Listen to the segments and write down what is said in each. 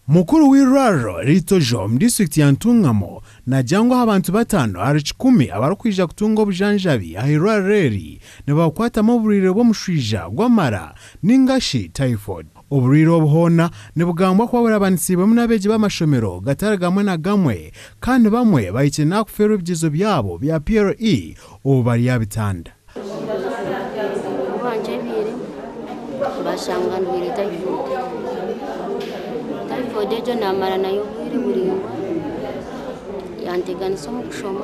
Mukuru w'eirwariro riri Tojo omu disiturikiti ya Ntungamo naagira ngu aha bantu bataano ahari kikumi abarikwija kutunga obujanjabi aha eirwariro eri nibabukwatamu oburwaire bw'omushwija gw'amara nainga shi Typhoid. Oburwaire obu hoona nibugambwa kuba burabanisiibwemu n'abeegi b'amashomero gatari gamwe na gamwe kandi bamwe bahikire n'aha kufeerwa ebigiizo byabo bya PLE obu bari aha bitanda. Ku baankyebyeire baashanga ndwaire tayifoodu. Tayifoodu egyo naamara nayo obwire buraingwa, yanteganisa omu kushoma.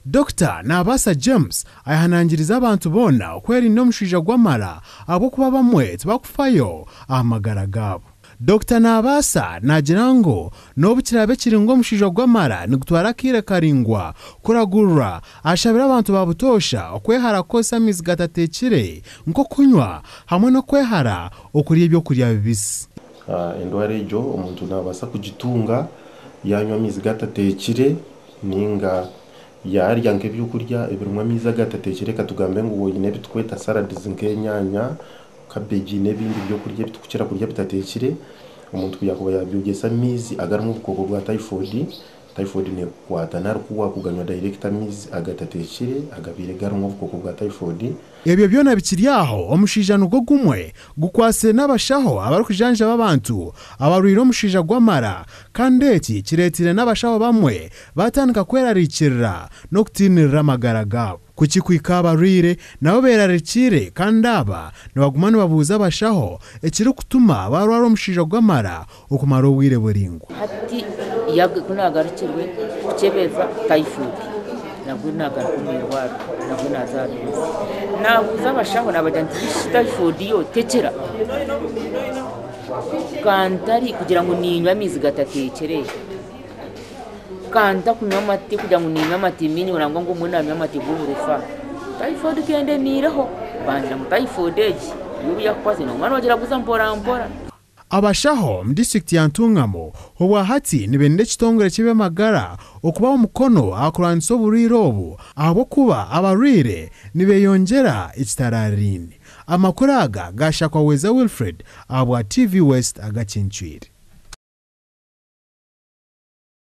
Dokita Naabaasa James ayehanangiriza abantu boona okwerinda omushwija gw'amara ahabw'okuba abamwe tibakufayo aha magara gaabo. Dokita Naabaasa naagira ngu n'obu kiraabe kiri ngu omushaija ogu amara nigutwara akaire karaingwa kuragurura, ashabire abantu ba butoosha okwehara kukozesa amaizi gatateekire nk'okunywa hamwe n'okwehara okurya eby'okurya bibisi. Endwara egyo omuntu naabaasa kugitunga yaanywa amaizi gatateekire nainga yaarya nk'eby'okurya ebirimu amaizi agatateekire, katugambe ngu oine ebiturikweta saradizi nk'enyaanya, kabegi n'ebindi by'okurya ebi turikukira kurya bitateekire, omuntu ku yaakuba yaabyogyesa omu maizi agarimu obukooko bwa tayifodi, tayifodi neekukwata nari ku waakuganywa dayirekiti amaizi agatateekire agabaire garimu obukooko bwa tayifodi. Ebyo byona bikiri aho, omushaija nigwo gumwe gukwatsire n'abashaho abarikujanjaba abantu abarwaire omushaija gw'amara kandi eki kireeteire n'abashaho bamwe baatandika kwerariikirira n'okutiinirira amagara gaabo. Ku kikuhika aha barwaire, nabo beerarikiire kandi aba nibaguma nibabuuza abashaho ekirikutuma baarwara omushaija ogw'amara okumara obwire buraingwa. Hati ku naagarukirwe kukyebeeza taifoodi, nabwo naagaruka omu irwariro, nabwo naaza aha meeza. Naabuuza abashaho naabagira nti, Shi taifoodi yo tekira? Ka ntari kugira ngu niinywa amaizi gatateekire? kandi ntakunywa amate kugira ngu niinywa amate maingi ngu ngu mbwenu naanywa amate g'oburofa typhoid ka endemiireho mbanza ngu typhoid egi yobu yakukwatisa noba nogyeraguza mporampora. Abashaho omu disiturikiti ya Ntungamo obwahati nibainira ekitongore ky'eby'amagara okubaho omukono aha kurwanisa oburwaire obu ahabw'okuba abarwaire nibeyongyera ekitaraariine. Amakuru aga gaashakwa Weza Wilfred ahabwa TV West agakincwire.